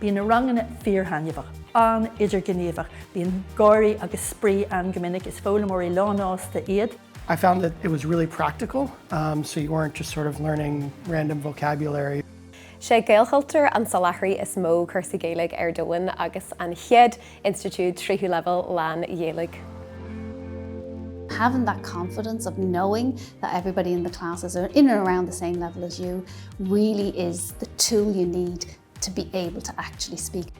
Bíonn na ranganna fíorthaitneamhach, an-idirghníomhach, bíonn gáirí agus spraoi ann go minic, is foghlaimeoirí lánsásta iad. I found that it was really practical, so you weren't just sort of learning random vocabulary. Sé Gaelchultúr an soláthraí is mó cúrsaí Gaeilge ar domhan agus an chéad Institiúid tríú leibhéal lán-Ghaeilge. Having that confidence of knowing that everybody in the class is in and around the same level as you really is the tool you need to be able to actually speak.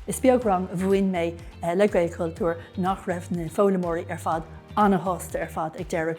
Is beag rang a mhúin mé le Gaelchultúr nach raibh na foghlaimeoirí ar fad an-shásta ar fad ag deireadh.